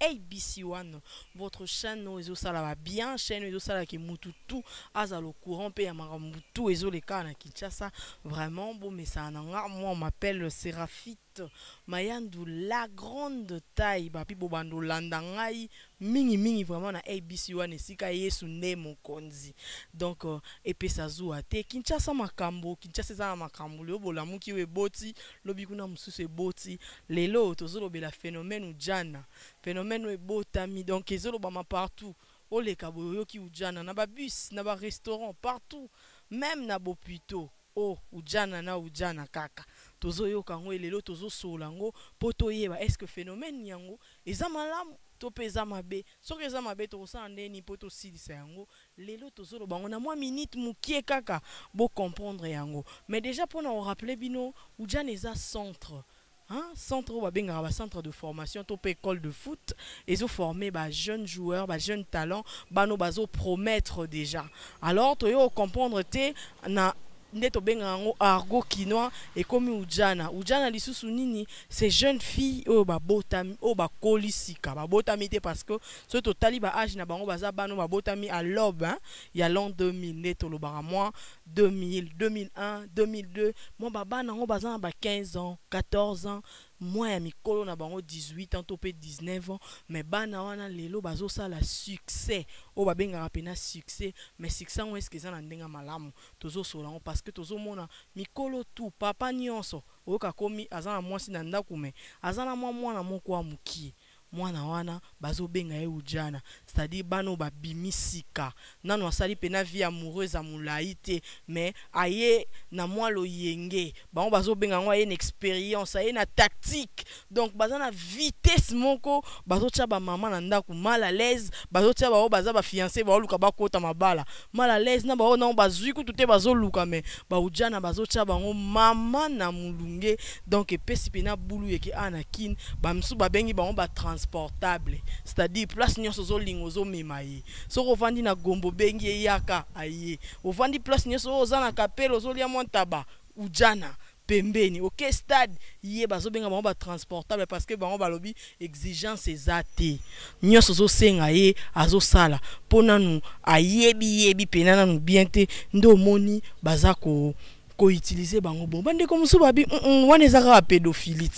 ABC one votre chaine oyo ezo sala ba bien chaine ezo sala ke mutu tout aza lo courant pe ya makambo tout ezo le ka na Kinshasa vraiment bo mesa na nga moi m'appelle Seraphite Mayandu la grande taille ba pi bo bando landa ngai mingi mingi vraiment na ABC one esika Yesu nde mokonzi donc euh, epesa zuwa te Kinshasa makambo Kinshasa eza na makambo lelo bolamuki oyo eboti lobi kuna mususu eboti lelo tozolobela phenomène ujana phenomène oyo ebotami donc ezolobama partout oleka boye oyoki ujana na ba bus na ba restaurant partout meme na bopito oh ujana na ujana kaka tozoyoka yango et lelo tozosolola yango po toyeba est ce que phenomène yango eza malamu to pe eza mabe soki eza mabe tokosala ndenge nini po tosilisa yango Lelo tozo loba yango na mwa minute mukie kaka bo comprendre yango mais dejà pona ko rappeler bino udjana eza centre hein centre oyo ba bengaka ba centre de formation to pe ecole de foot ezo former ba jeunes joueurs ba jeunes talents bana oyo bazo promettre dejà alors toye ko comprendre te na nde to bengaka yango argot kinois ekomi udjana udjana lisusu nini c'est jeunes filles oyo ba botami oyo ba koli sika ba botami te parce que soki totali ba age na bango baza bana babotami à l'aube hein, ya l'an 2000 nde tolobaka mwa 2000 2001 2002 mwa babana yango baza na ba 15 ans 14 ans mwa ya mikolo na bango 18 ans to mpe 19 ans mais bana wana lelo bazosala succès oyo babengaka mpena succès mais succès yango eske eza na ndenge ya malamu tozosolola yango parce que tozomona mikolo tout papa nyonso oyoka akomi aza na mwasi na ndako mais aza na mwa mwana moko ya mokie Mwana wana bazo benga ye udjana c'est à dire bana oyo ba bimi sika nanu asali pena vie amoureuse ya mulayi te mais aye na mwa loyenge bango bazo benga yango aye na experience aye na tactique donc baza na vitesse moko bazo tia ba maman na ndaku mal à l'aise bazo tia ba oyo baza ba fiance bazo luka ba kota mabala mal à l'aise na ba oyo nanu bazui kutu te bazo luka mais ba udjana bazo tia bango maman na mulunge Donc epesi pena bulu yeke a na kin ba misusu babengi bango ba transportable c'est-à-dire place nyonso ozolinga ozomema ye soki ovandi na gombo obengi ye yaka aye ovandi place nyonso oyo oza na kapele ozolia mwa ntaba ujana pembeni ok stade ye bazobenga bango ba transportable parce que bango balobi exigence eza te nyonso ozosenga ye azosala mpo nanu ayebi yebi pena nanu bien te nde omoni baza ko ko utiliser bango bon ba ndeko musu ba bi mm, mm, wana eza kaka pedophilie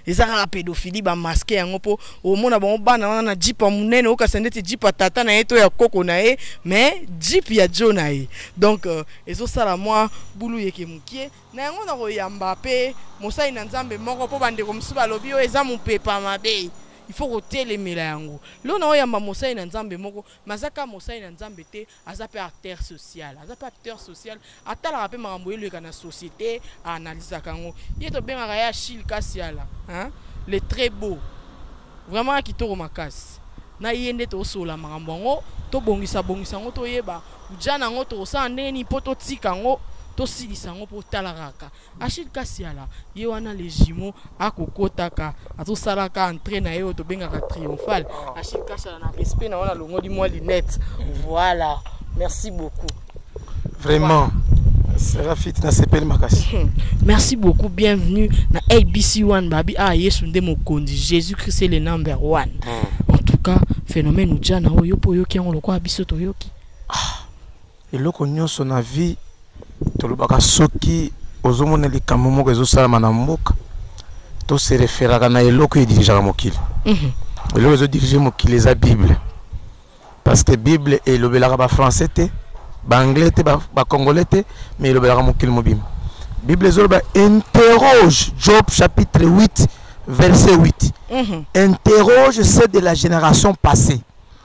eza kaka pédophilie ba masquer yango po omona bango bana wana na jipa munene okasa ndeti jipa tata na ye to ya koko na ye mais jip ya jo na ye donc euh, ezo sala mwa bulu yeke mukie na yango na koyamba pe mosali na nzambe moko po bandeko mosusu balobi oyo eza mopepa mabe il faut kotelemela yango lelo na oyamba mosali na nzambe moko mazaka mosali na nzambe te aza pe acteur social aza pe acteur social atalaka pe makambo eleka na société aanalysaka yango ye tobengaka ye achille kasiala hein? le très beau vraiment kitoko makasi na ye nde tosola makambo yango tobongisa bongisa yango toyeba uja na yango tokosala ndenge nini mpo totika yango tosilisa yango mpo otalaka kaka Achille Kasiala ye wana les jumeaux akokotaka azosalaka entrée na ye oyo tobengaka triomphale ah. Achille Kasiala na respect na wana alongoli mwa lunette voilà merci beaucoup vraiment serafit nasepeli makasi hmm. merci beaucoup bienvenue na abc one babi ah yesu nde mokonzi jésus christ est le number one hmm. en tout cas phénomène ojana oyo mpo oyoki yango lokola biso toyoki ah. Eloko nyoso na vie tolobaka soki ozomona likambo moko ezosalama na mboka to se referaka na eloko edirigeaka mokili mhm. eloko ezodirige mokili eza bible parce que bible elobelaka bafrançais te baanglais te bacongolais te mais elobelaka mokili mobima bible ezoloba interroge job chapitre 8 verset 8 mhm. interroge ceux de la génération passée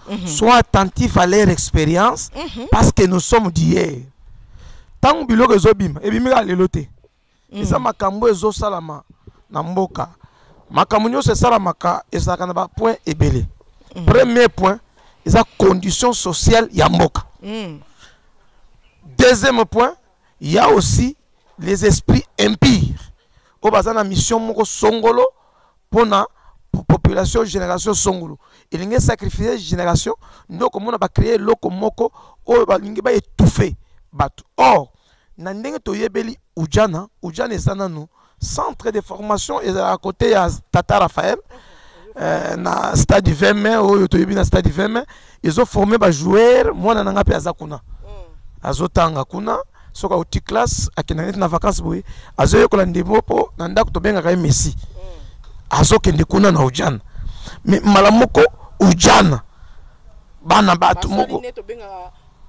Mhm. Sois attentif à leur expérience mhm. parce que nous sommes d'hier. Tant que biloko ezobima, ebimi ka lelo te. Mhm. Eza makambo ezosalama na mboka. Makambo nyonso esalamaka ezalaka na ba point ebele. Premier point eza condition sociale ya mboka. Deuxième point, il y a aussi les esprits impires. Obazana mission moko songolo pona population génération songulu elingi sacrifier génération nde okomona bacreye eloko moko oyo balingi baetouffe bato or na ndenge toyebeli ujana ujana eza nanu centre de formation ezalaka kote ya tata raphael euh, na stade 20 mai oyo toyebi na stade 20 mai ezo forme ba joueur mwana na nga mpe aza kuna mm. azotanga kuna soki auti classe akenda neti na vacance boye azoyekola ndembo mpo na ndako tobengaka ye messi mm. azokende kuna na ujana me mbala moko ujana bana bato moko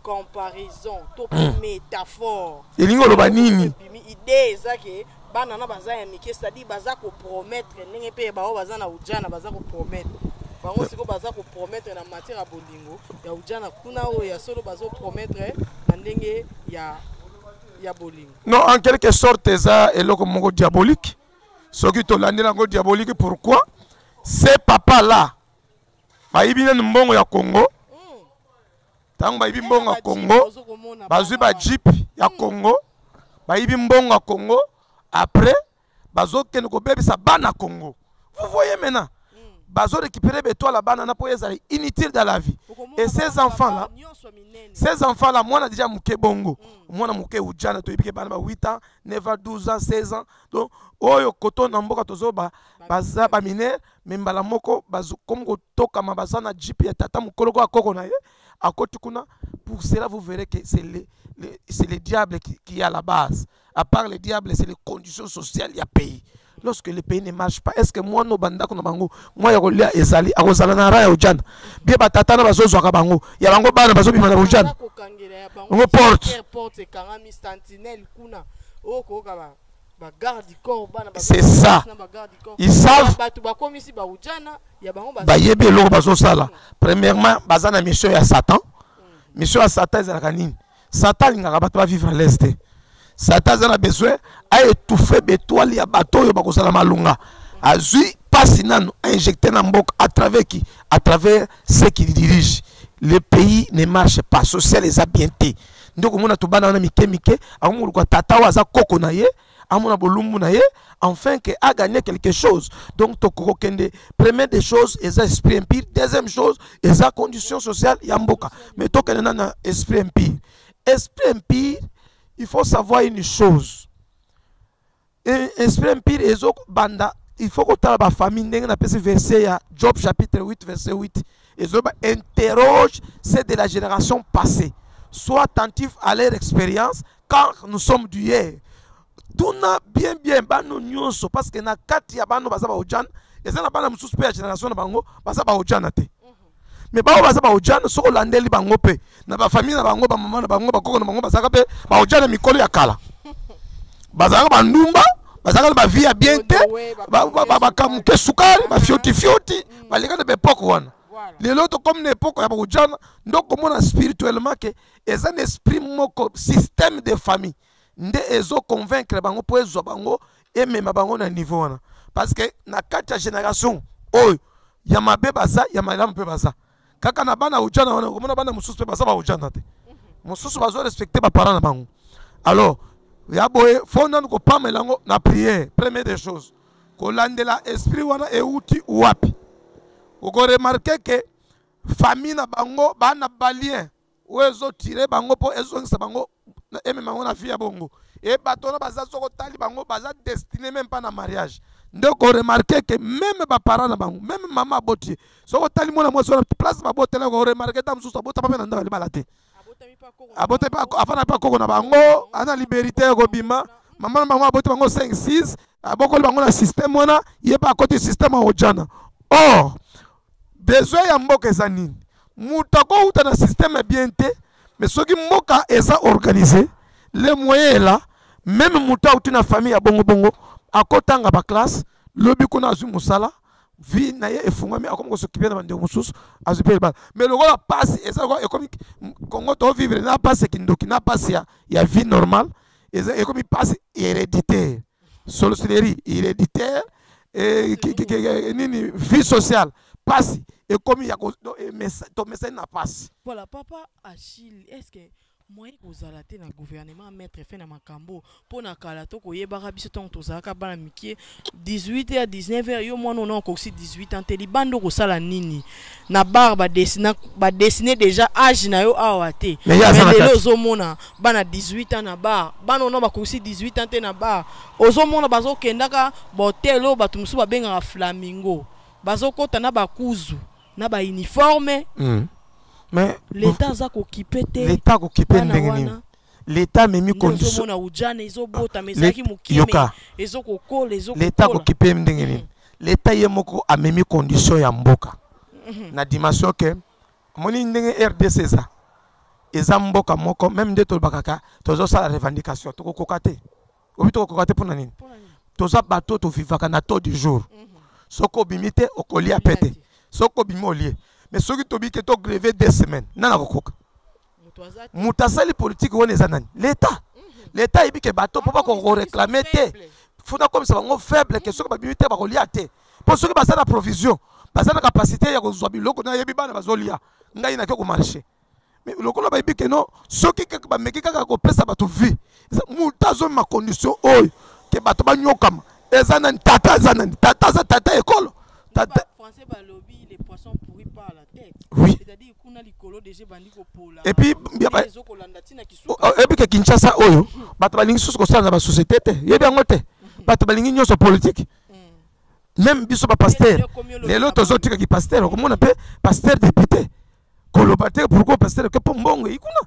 comparaison to mm. métaphore elingi oloba nini idée eza ke bana na baza ya mike c'est-à-dire baza kopromettre ndenge mpe bango baza na ujana baza kopromettre bango sikoyo baza kopromettre na matière ya bolingo ya ujana kuna oyo ya solo bazopromettre na ndenge ya ya bolingo non en quelque sorte eza eloko moko diabolique soki tolandeli yango diabolique pourquoi ce papa là bayibi nani mbongo ya congo ntango bayibi mbongo ya congo bazwi bajipe ya hmm. congo bayibi mbongo ya congo après bazokende kobebisa bana congo vous voyez maintenant hmm. bazo récupérer betoile ya bana na mpo ezala inutile dans la vie et ces enfants là ces enfants là mwana déjà moke bongo hmm. mwana moke ujana toyebi ke bana ba 8 ans 9 ans 12 ans 16 ans donc oyo koto na mboka tozoba baza baminere ba me mbala moko bazokomi kotokama baza na jip ya tata mokolo ko akoko na ye akoti kuna pour cela vous verrez que c'est le, le, c'est le diable qui, qui est à la base à part le diable c'est les conditions sociales ya pays lorsque le pays ne marche pas est-ce que mwana oyo bandako na bango mwa ya kolia ezali akozala na ra ya ojana bie batata na bazozwaka bango ya bango bana bazobima na ojana bango porte c'est ça ils savent bayebi eloko bazosala premièrement baza na mission ya satan mm. mission ya satan ezalaka nini satan alingaka bato bavivre à l'aise te satan aza na besoin aetouffe betoile ya bato oyo bakozala malonga azwi mpasi nanu ainjecte na mboka à travers qui à travers ce qui dirige le pays ne marche pas social eza bien te nde okomona to bana wana mike mike akomoluka tata oyo aza koko na ye amona bolumbu na ye enfin que a gagné quelque chose donc tokokende première des choses eza esprit empire deuxième chose eza condition sociale ya mboka mais tokende na na esprit empire esprit empire il faut savoir une chose E, esprit impur ezo banda il faut kotala ba famille ndenge na pesi verset ya Job chapitre 8 verset 8 ezo ba interroge c'est de la génération passée sois attentif à leur expérience car nous sommes du hier tuna bien bien bano nyonso parce que na kati ya bano baza ba ojana eza na bana mosusu mpe ya génération na bango baza ba ojana te me bango baza baojana soki olandeli bango mpe na bafamille na bango bamama na bango bakoko na bango bazalaka mpe baojana mikolo ya kala bazalaka bandumba bazalaka na bavie ya bien te bakamuke sukali bafiotifioti mm. baleka na baepoke wana lelo tokomi na epoke ya baojana nde okomona spirituellement ke eza na esprit moko système de famille nde ezo convaincre bango mpo ezwa bango emema bango na niveau wana parce que na kati ya génération oyo ya mabe baza ya malamu mpe baza kaka na bana ujana wana okomona bana mosusu mpe baza baujana te mosusu bazo respecte baparent na bango alors ya boye fo nanu kopamela yango na priere premier des choses kolandela esprit wana euti wapi okoremarke ke famille na bango bana balien oyo ezotire bango mpo ezongisa bango emema bango na vie ya bongo e bato wana baza soko otali bango baza destine meme mpa na mariage nde okoremarke ke meme baparent na bango meme mama aboti ye soko otali mwana mwasi wana place babotela okoremarke ta mosusu abotama mpe na ndako libala te abotami mpe afana mpe akoko na bango ana liberté ya kobima mama na bango aboti bango 5 6 abokoli bango na système wana ye mpe akoti système ya ojana or besoin ya mboka eza nini moto akouta na système ya bien te mais soki mboka eza organise le moyen ela meme moto auti na famille ya bongobongo akotanga baklasse lobi kuna azwi mosala vie na ye efungwami akomi kosokipe na bandeko mosusu azwi mpe libala mais lokola mpasi eza lokola ekomi kongo tovivre na mpasi ya kindoki na mpasi ya, ya vie normale eza ekomi mpasi hereditaire sorcellerie héréditaire eh, eh, nini vie sociale pasi ekomi ya tomesani na pasi voilà papa achille est ce que moyen kozala te na gouvernement maître fe na makambo mpo na kala to koyebaka biso ntango tozalaka bana mikie 18 heure 19 heure yo mwana ona okosi 18 ans te libanda okosala nini na bar ba dessiner ba dessiner déjà âge na yo awa te mais lelo ozomona bana 18 ans na bar bana ona bakosi 18 ans te na bar ozomona bazokendaka bahotel oyo bato mosusu babengaka flamingo bazokɔta na bakuzu na bauniforme mm. mais leta aza kokipe te leta akokipe ndenge nini leta amemi kondisomona ujana ezobotama ah, ezalaki mokimeezokokola ezokokola leta akokipe ndenge nini mm. L'Etat ye moko amemi condition ya mboka na dimension que omoni ndenge RDC eza eza mboka moko meme nde tolobaka ka tozosala revendication tokokoka te obi tokokoka te mpo na nini toza bato tovivaka na taux du jour mhm. soki obimi te okolia mpe te soki obimi olie mais soki tobiki togreve deux semaines nani akokoka moto asali politiki wana eza nani leta mhm. leta ayebi ke bato mpo bakoreklame te funa akomisa bango faible ke soki babimi te bakolia te mpo soki baza na provision baza na kapasité ya kozwa biloko nayebi bana bazolia ngai nake komarche lokola bayebi ke no soki kaka bameki kaka kopesa bato vie moto azomema condition oyo ke bato banyokama eza nani tata eza nani tata aza tata ekolo tata oui epuis ke kinshasa oyo bato balingi susu kosala na basociété te yebi yango te bato balingi nyonso politike meme biso bapaster lelo tozotika kipaster okomona mpe paster député koloba te pourkoi paster ke mpo mbongo eyi kuna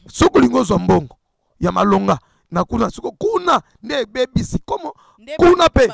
soki olingi ozwa mbongo ya malonga na kuna siko kuna nde ebebisi komo kuna mpe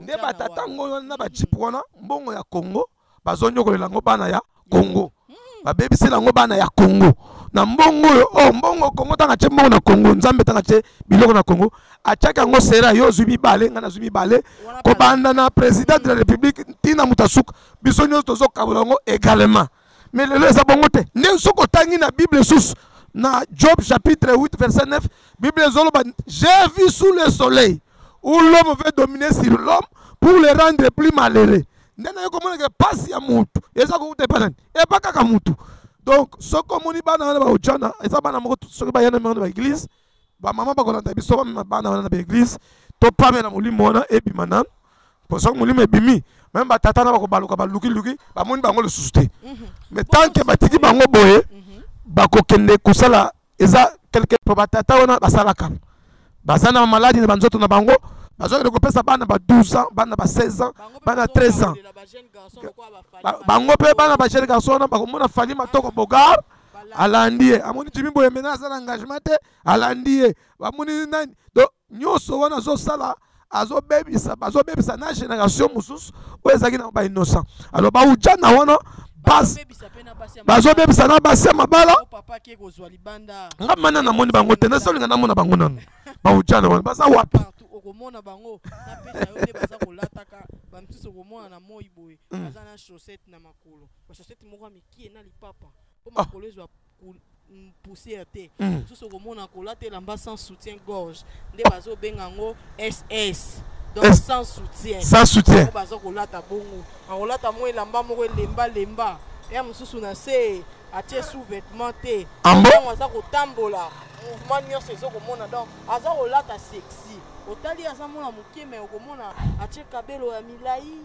nde batata ngo wana na bajipe wana mbongo ya kongo bazonyokolela yango bana ya kongo hmm. babebisela yango bana ya kongo na mbongo oyo o oh, mbongo kongo ntango atye mbongo na kongo nzambe ntango atye biloko na kongo atyaki yango sera yo ozwi mibale ngai nazwi mibale kobanda na président de la république ntina moto asuka biso nyonso tozokabola yango également mais lelo eza bongo te ndenge soki otangi na bible esusu na job chapitre 8 verset 9 bible ezoloba j'ai vu sous le soleil où l'homme veut dominer sur l'homme pour le rendre plus malheureux nde naye komonaka mpasi ya motu eza kokuta epa nani epa kaka motu donc soki omoni bana wana baojana eza bana moko soki bayana moko na baeglise Ba maman ba kolanda biso ba mema bana wana na ba église to pame na molimo wana ebima nanu. Po soki molimo ebimi même ba tata na ba kobaluka ba luki luki ba moni bango lisusu te. Mhm. Mais tant que batiki bango boye mhm. ba kokende kosala eza quelque po ba tata wana basalaka. Baza na maladi na banzoto na bango bazokende kopesa bana ba 12 ans bana ba 16 ans bana 13 ans bango mpe bana ba jeune garçon wana bakomona fali matoko bogard alandi ye amoni jimi boye mena aza na engagement te alandi ye bamoni nani donc nyonso wana azosala azobebisa bazobebisa na génération mosusu oyo ezalaki na ba innocent alors baujana wana bazobebisa na basi ya mabala nga mana namoni bango te nazolinga namona bango nanu baujana wana baza wapi okomona bango napesa yo nde baza kolataka bamisusu okomona na moi boye hmm. baza na chaussette na makolo bachaussette moko ya mike Ah. poussière te mosusu okomona kolata elamba sans soutien gorge nde bazobenga yango ss donc sans soutien sans soutien baza kolata bongo akolata mwa elamba moko elemba lemba ya mosusu na se atie sous vêtement te ntango ah aza kotambola mouvement nyonso ezokomona donc aza kolata sexy otali aza mwana moke me okomona atie kabelo ya milai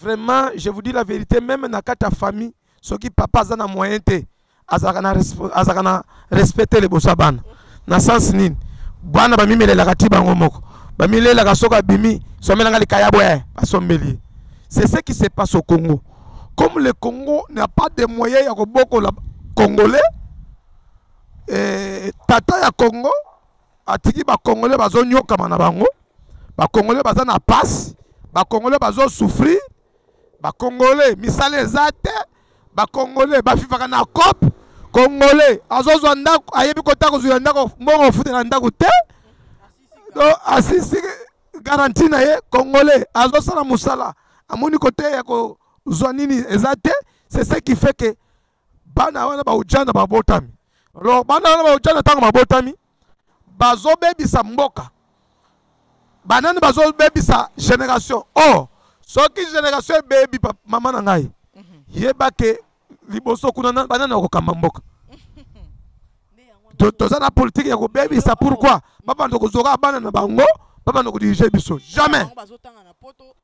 vraiment je vous dis la vérité meme na kati ya famille soki papa aza na moyen te azalaka na, azalaka na respect te liboso ya bana na sens nini bana bamimelelaka ti bango moko bamilelaka soki abimi somelanga likayabo e basombeli ye c'est ce qui se passe au congo comme le congo n'a pas de moyen ya kobokola congolais eh, tata ya congo atiki bakongole bazonyokama na bango bakongole baza na pasi bakongole bazosouffrir bakongole misala eza te bakongole bafifaka na cope kongole azozwa ndako ayebi kota kozwila ndako mbongo ofutela ndako te asisi garanti na ye kongole azosala mosala amoni kote ya kozwa nini eza te c'est ce qui fait que bana wana baujana babotami alors bana wana baujana ntango babotami bazobebisa mboka banani bazobebisa génération oh soki génération ebebi mama na ngai mhm. yeba ke liboso kuna banani bakokamba mboka toza na politike ya kobebisa pourkui babanda kozoka bana na bango babanda kodirige biso jamais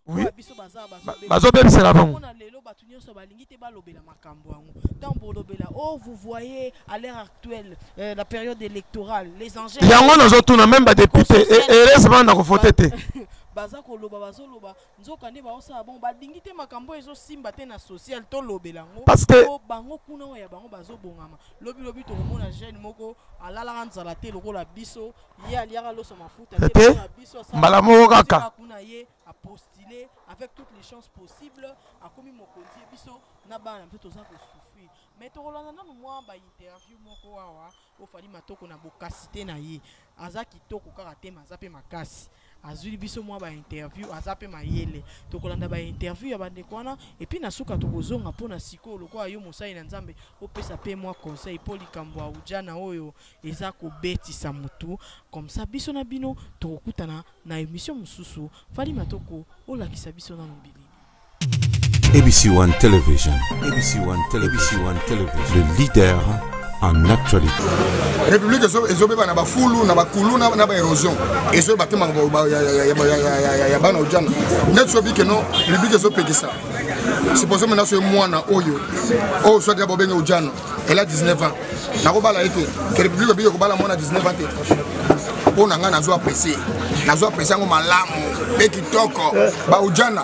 oui bazobebisela bango bato nyonso balingi te balobela makambo yango ntango bolobela o oh, vous voyez à l'heure actuelle euh, la période électorale les enjeux yango nazotuna meme badepute heureusement nakovote te baza koloba bazoloba nzoka nde baosala bongo balingi te makambo oyo ezosimba te na social tolobela yango Parce que- po bango kuna oyo ya bango bazobongama lobilobi tokomona jeune moko alalaka nzala te lokola biso ye aliaka loso mafuta Te. te lokola biso asala- Mbala moko kaka. asala kuna ye apostule avec toutes les chances possibles akomi mokonzi ye biso na bana mpe toza kosouffrir mais tokolanda nanu mwa bainterview moko awa po fali matoko na bokasite na ye aza kitoko kaka te ma aza mpe makasi azwili biso mwa bainterview aza mpe mayele tokolanda bainterview ya bandeko wana epuis na suka tokozonga mpo na sikoyo lokola yo mosali na nzambe opesa mpe mwa conseil mpo likambo ya ujana oyo eza kobetisa motu komsa biso na bino tokokutana na emission mosusu fali matoko olakisa biso nano bilili ABC One Television. ABC One Television. ABC One Television. Le leader en actualité. République ezobeba na bafulu na bakulu na ba érosion ezo batema ya bana ojana ndeti sobi ke non république ezopekisa siposo mena soki mwana oyo oyo swati ya bobenge ojana elle a 19 ans nakobala ye te que république obiki kobala mwana 19 ans te mpo na ngai nazo apprécie nazo apprécie yango malamu mpe kitoko baujana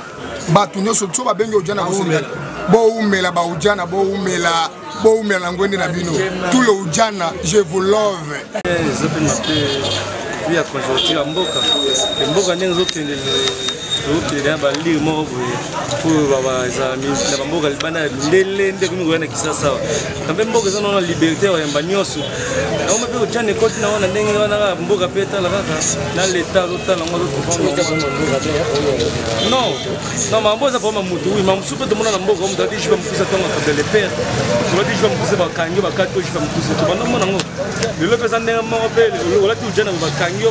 bato nyonso so babengi ujana bosengali bowumela baujana bowumela bowumela na ngwende na bino tout le ujana je vous love eh, ya conjoncture ya mboka mboka ndenge ezokende tokende na balire moko boye oyo baza na bamboka libanda ya mindele nde ekomi koya na kisasa awa na mpe mboka eza nao na liberté ya koyamba nyonso yango mpe otya na ekoti na wana ndenge wana kaka mboka mpe etala kaka na leta azotala yango non na mambo eza problème ya motu wi ma mosusu mpe tomona na mboka moto ati jupe mokuse ntongo akabda le père tolati jupe mokuse bakangi yo bakati yo jupe mokuse tobanda omona yango lelo mpe eza ndenge moko mpe olati ojana bakangi yo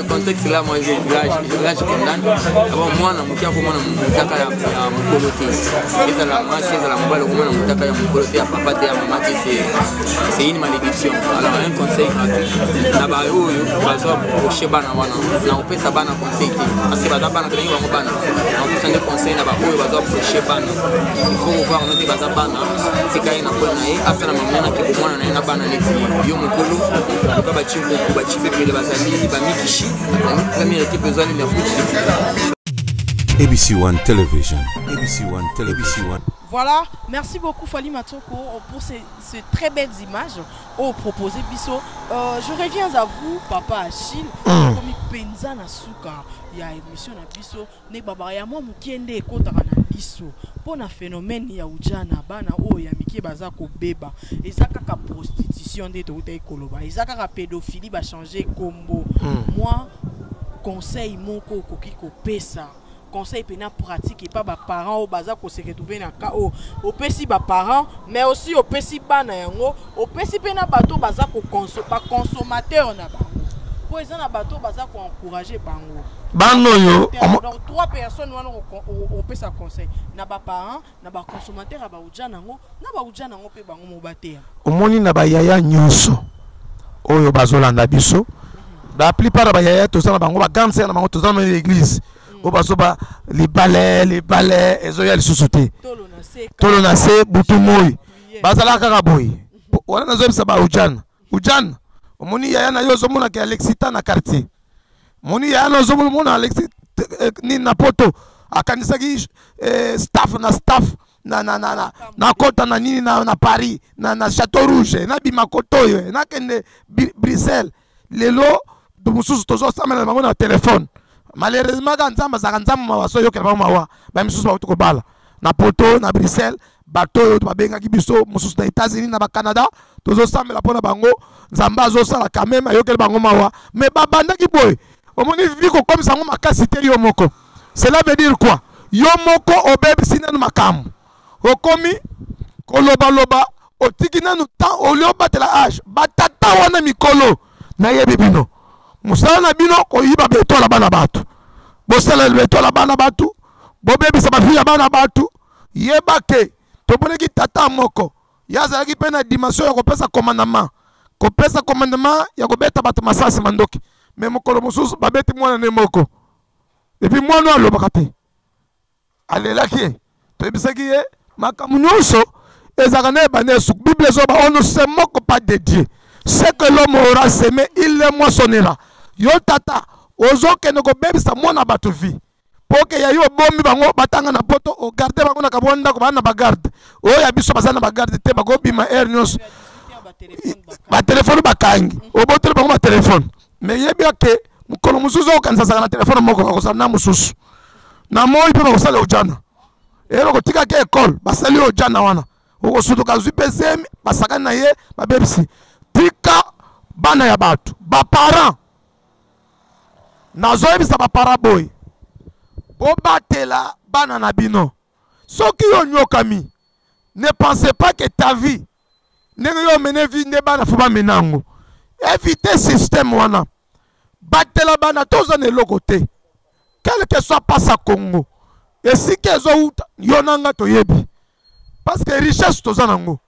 contexte là moi j'ai l'âge l'âge condamne avant moi na mukia ko mona mutaka ya mukolo te eza la masse eza la mobile ko mona mutaka ya mukolo te ya papa te ya maman te c'est c'est une malédiction alors un conseil gratuit na ba oyo bazo approcher bana wana na opesa bana conseil te parce que baza bana tolingi bango bana na opesa nde conseil na ba oyo bazo approcher bana il faut ko voir note baza bana tika ye na pole na ye asala mama na kibomwana na ye na bana neti yo mukolo loka baci mpo bachife ebele bazali bamikishi azali premier ekipe ezwani na foot ABC One Television. ABC One Television. ABC One. Voilà, merci beaucoup Fali Matoko pour ces, ces, très belles images oh, proposées. Bisso. Euh, je reviens à vous, Papa Achille. Mm. Comme Penza Nasuka, il y a émission à Bisso. ne baba ya mwa mokie nde ekotaka na liso mpo na phénomène ya ujana bana oyo ya mike baza kobeba eza kaka prostitution nde toutaki koloba eza kaka pédophilie bachange nkombo hmm. mwa conseil moko okoki kopesa conseil mpena pratique epa baparent oyo baza koseretrouve na ka oyo opesi baparent mais aussi opesi bana yango opesi mpe na bato baza baconsommateur na bango mpo eza na bato baza koencourage bango bana oyo donc trois personnes wana opesa conseil na baparent na baconsommateur ya bauja nango na bauja nango mpe bango mo bateya omoni na bayaya nyonso oyo bazolanda biso mhm. la plupart ya bayaya toza na bango bagrande sere na bango toza na église mhm. oyo bazoba libale libale ezoya lisusu te tolo na se butu moi bazalaka kaka boye wana nazoyebisa ba ujana ujana omoni yaya na yo ozomonaka ya lexita na quartier moni yaya na ozomona alexi eh, nini na poto akanisaki eh, staff na staff na, na, na, na, na kota na nini na, na paris na, na chateau rouge nabima kota oyo nakende bruxelles lelo mosusu tozosambela na bango na telefone malheureusement kaka nzambe azalaka nzambe mawa so oyokela bango mawa ba misusu bauti kobala na poto na bruxelles bato oyo babengaki biso mosusu na états-unis na bacanada tozosambela mpo na bango nzambe azosala quand même ayokeli bango mawa mais babandaki boye omoni vivi kokomisa yango makasi te yo moko cela veut dire quoi yo moko obebisi nanu makambo okomi kolobaloba otiki nanu temps olio batela age batata wana mikolo nayebi bino mosala na bino koyiba beto na bana bato bosala beto na bana bato bobebisa bafi ya bana bato yeba ke toponaki tata moko ye azalaki mpe na dimension ya kopesa commandement kopesa commandement ya kobeta bato masasi mandoki me mokolo mosusu babeti mwana ne moko epuis mwana oyo alobaka te alelaki ye toyebisaki ye makambo nyonso ezalaka na ebanda esu bible ezoba on ne se moque pas de dieu ce que l'homme aura semé il le moissonnera yo tata ozokende kobebisa mwana bato vie mpo ke ya yo obomi bango batanga na poto ogarde bango na kabwa ndako baa na bagarde oyo ya biso baza na bagarde te bakobima heure nyonso batelefone bakangi obotoli bango batelefone me yebia ke mokolo mosusu okokanisasaka na telefone moko bakosala na mosusu na moi mpe bakosala ojana eyelo kotikaki ekole basali ojana wana okosutuka azwi mpe zemi basakani na ye babebisi tika bana ya bato baparent nazoyebisa bapara boye bobatela bana na bino soki onyokami ne pense pas que ta vie ndenge yo omene vie nde bana fo bamena yango éviter système wana batela bana toza na eloko te quelque soit pasa congo esika ezowuta yo na nga toyebi parce que richesse toza nango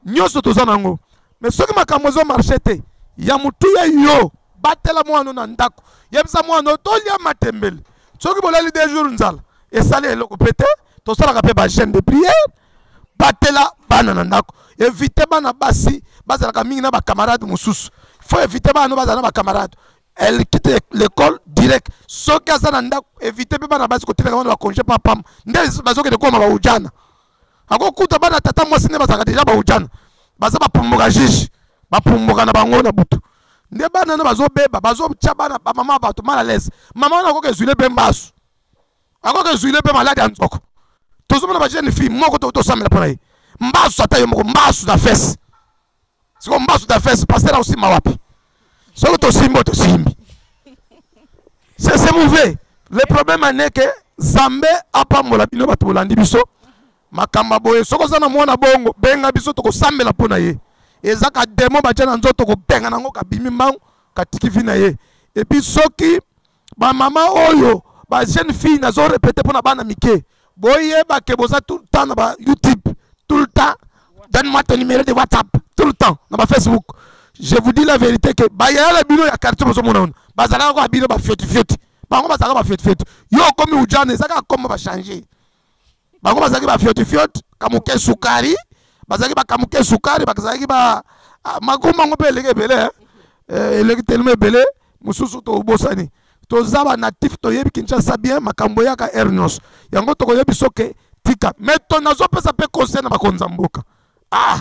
nyonso toza nango mais soki makambo ezo marche te ya motuya yo batela mwana na ndako yebisa mwana tolia matembele soki bolali de jour nzala esali eloko mpe te tosalaka mpe bagene de prière batela bana na ndako evite bana basi bazalaka mingi na bacamarade mosusu faut evite bana no bazala na bacamarade elle quitte l'école direct soki aza na ndako evite mpe bana basi kotelaka bana bakonge mpo apama nde bazokende koma baujana akokuta bana tata mwasi nde bazalaka deja baujana baza bapumbuka juge bapumbuka na bango na butu nde bana na bazobeba bazotya bana bamama bato mal à l'aise mama wana akoka ezwile mpe mbasu akoki ezuile mpe maladi ya nzoko tozomona bajeune fille moko tokoki tosambela mpo na ye mbasu ata yo moko mbasu na fese siko mbasu na fese paster akosimba wapi soki tosimbi oyo tosimbi sesemouve le problème ane ke zambe apambola bino bato bolandi biso makambo boye soki oza na mwana bongo benga biso tokosambela mpo na ye eza ka demo batya na nzoto kobenga nango kabimi mbangu katiki vi na ye epuis soki ba mama oyo ba jeune fille nazo répéter pona bana mike boyeba ke boza tout le temps na ba youtube tout le temps donne-moi ton numéro de whatsapp tout le temps na ba facebook je vous dis la vérité que bayaya na bino ya quartier bozomona ona bazalaka kaka bino bafiotifioti bango bazalaka bafiotifioti yo okomi ujana eza kaka koma bachange bango bazalaki bafiotifiote kamuke sukari bazalaki bakamuke sukari bazalaki ba ah, makombo yango mpe eleki ebele eh. Eh, eleki telema ebele mosusu tobosani toza banatif toyebi kinshasa bien makambo eyaka aire nyonso yango tokoyebi soke tika mai to nazopesa mpe conseil na bakonzi ya mboka ah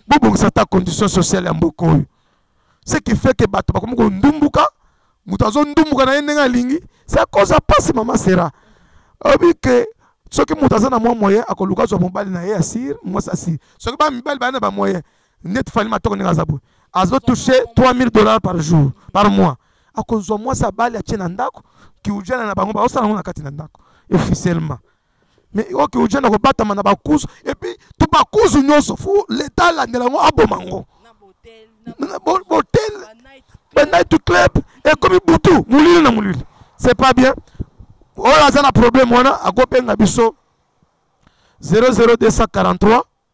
bobongisa ata condition sociale ya mboka oyo ce qui fait que bato bakomi kondumbuka moto azondumbuka na ye ndenge alingi se akoza mpasi mama sera oyebi ke soki moto aza na mwa moyen akoluka azwa mobali na ye ya sire mwasi asire soki bamibali baya na bamoyen neti fali matoko ndenge aza boye azotouche 3000 dollars par jour par mois akozwa mwasi abali atie na ndako kiujana na bango baosala yango na kati na ndako officiellement mais oke oja na kobatama na bakuzu epuis to bakuzu nyonso fo leta alandela yango aboma yango botel banight club ekomi butu molili na molili c'est pas bien oyo aza na problème wana akobenga biso 00243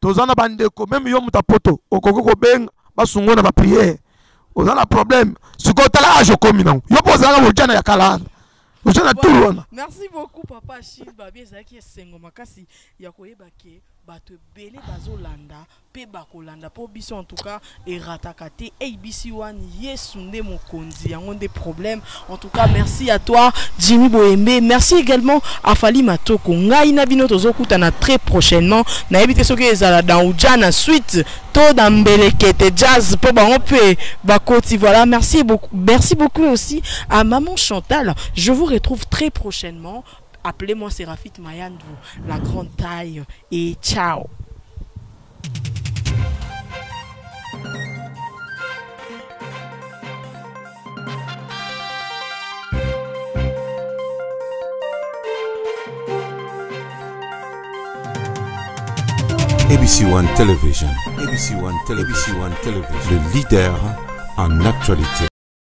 toza na bandeko meme yo moto ya poto okoki kobenga basungo na bapriere oza na problème sikoyo tala age okomi nango yo mpo ozalaka mojana ya kala wana oza na tour wana merci beaucoup papa shil babi ezalaki esengo makasi ya koyeba ke bato ebele bazolanda mpe bakolanda mpo biso en tout cas erataka te abc one yesu nde mokonzi yango nde problème en tout cas merci à toi jimmy boyembe merci également à fali matoko ngai na bino tozokutana très prochainement nayebi te soki ezala dans uja na suite to dans mbelekete jazz mpo bango mpe bakoti voilà merci beaucoup merci beaucoup aussi à maman chantal je vous retrouve très prochainement appelez-moi séraphite mayandou la grande taille et ciao ABC One Television. ABC One Television. ABC One Television. Le leader en actualité.